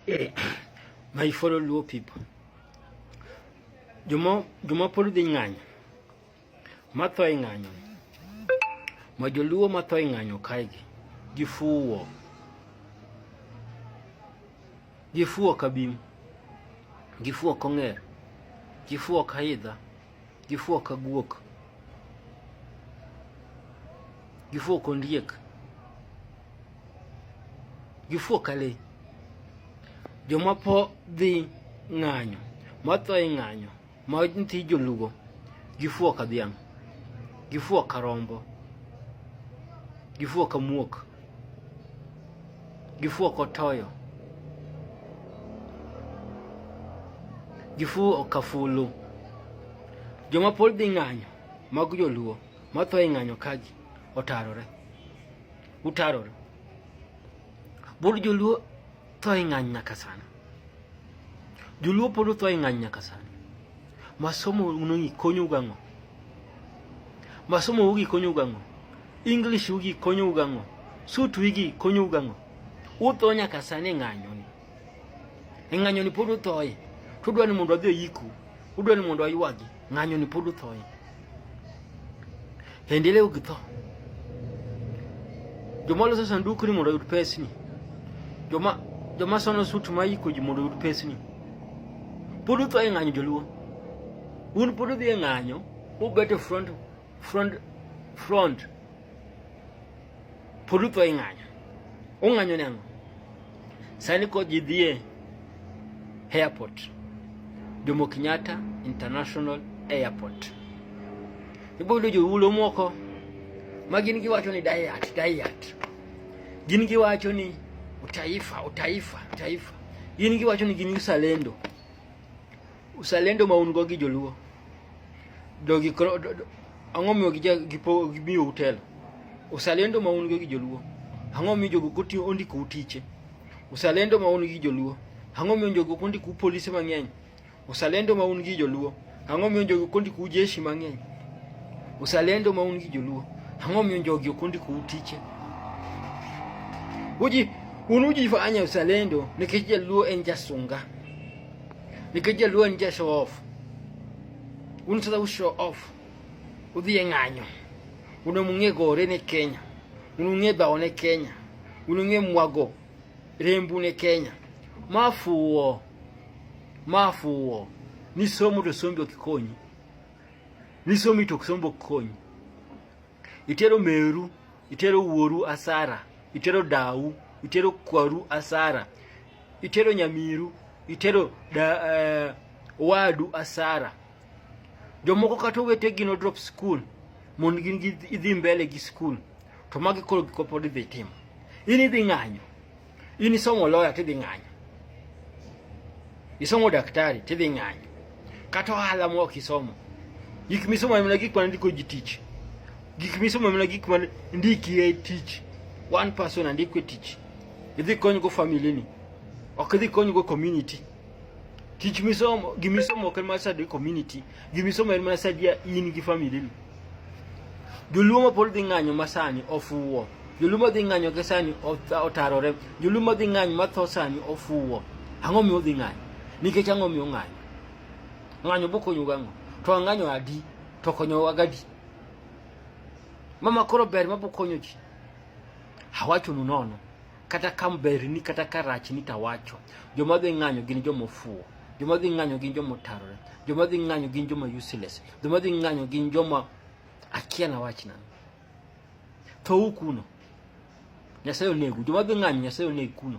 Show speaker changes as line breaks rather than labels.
Eh, my fellow Luo people, joma joma pod dhi ng'anyo matho e ng'anyo ma joluo matho e ng'anyo kaegi gifuwo gifuwo kabim gifuwo kong'er gifuwo kaidha Gifuwo ka guok. Gifuwo kondiek. Gifuwo ka le. Joma po dhi ng'anyo, matho e ng'anyo, ma nti jolugo, gifuwo ka dhiang', gifuwo ka rombo, gifuwo ka muok. Gifu ok otoyo. Gifu ok afulu. Joma pod dhi ng'anyo mag joluo matho e ng'anyo kagi otarore. Utarore. Bur joluo Twaing'anya kasana. Joluo polo twaing'anya kasana. Masomo unongi konyo gang'o? Masomo ugi konyo gang'o? English ugi konyo gang'o? Sutu ugi konyo gang'o? Utho nyaka sani e ng'anyo ni. E ng'anyo ni pod uthoye. Tudwa ni mondo adhi oyiku. Udwa ni mondo aywagi. Ng'anyo ni pod uthoe. Endelea ukitho. Joma loso sanduku ni mondo oyud pesni. Joma joma sono sut ma iko ji mondo oyud pesni. Pod uthoe e ng'anyo joluo. Un pod udhi e ng'anyo, ubet e front front front Pulutho ing'anyo. Ung'anyo ne ang'o? Sani ko ji dhie airport. Jomo Kenyatta International Airport. Ibodo jo ulo moko ma gin giwacho ni diet, diet. Gin giwacho ni utaifa, utaifa, utaifa. Gin giwacho ni gin usalendo. Usalendo ma un go gi joluo dogi ang'o miyo gimiyo utelo usalendo ma un go gi joluo ang'o miyo jogo kotiyo ondiko utiche usalendo ma un gi joluo ang'o miyo jogo kondiko polise mang'eny usalendo ma un gi joluo ang'o miyo jogo kondiko jeshi mang'eny usalendo ma un gi joluo ang'o miyo jogi ok ondiko utiche uji un ujifanya usalendo nikech jaluo en jasunga ninka jaluo nje show off unsada u show off udhi e ng'anyo unamung'e gore ne kenya unung'e bao ne kenya unung'e mwago rembu ne kenya mafuwo mafuwo nisomo to sombi okikonyi nisomi to sombo okikonyi itero meru itero wuoru asara itero dawu itero kwaru asara itero nyamiru itero da, eh, wadu asara jomoko kata owete gino drop school mondo gin idhi mbele gi school to magi koro gikopod idhi timo in idhi ng'anyo in isomo lawyer tidhi ng'anyo isomo daktari tidhi ng'anyo kata ohala ma ok isomo gik misomo mana gik mana ndiko ji tich gik misomo mana gik mana ndiki e tich one person andiko e tich idhi konygo family ni ok idhi konygo community Tich misomo, gimisomo ok en mana sadi community, gimisomo en mana sadi ya in gi family ni. Joluo ma pod dhi ng'anyo ma sani ofuwo. Joluo ma dhi ng'anyo ke sani otarore. Joluo ma dhi ng'anyo ma tho sani ofuwo. Ang'o miyo dhi ng'anyo? Nikech ang'o miyo ng'anyo? Ng'anyo bokonyo gang'o? To ang'anyo adi? To konyo wagadi. Mama koro ber ma bokonyo ji. Hawachonu nono. kata ka berni kata ka rachni tawacho joma dhi ng'anyo gin joma ofuwo joma dhi ng'anyo gin joma otarore joma dhi ng'anyo gin joma useless joma dhi ng'anyo gin joma akia na wach nani thou kuno nyasaye onegu joma dhi ng'anyo nyasaye oneg kuno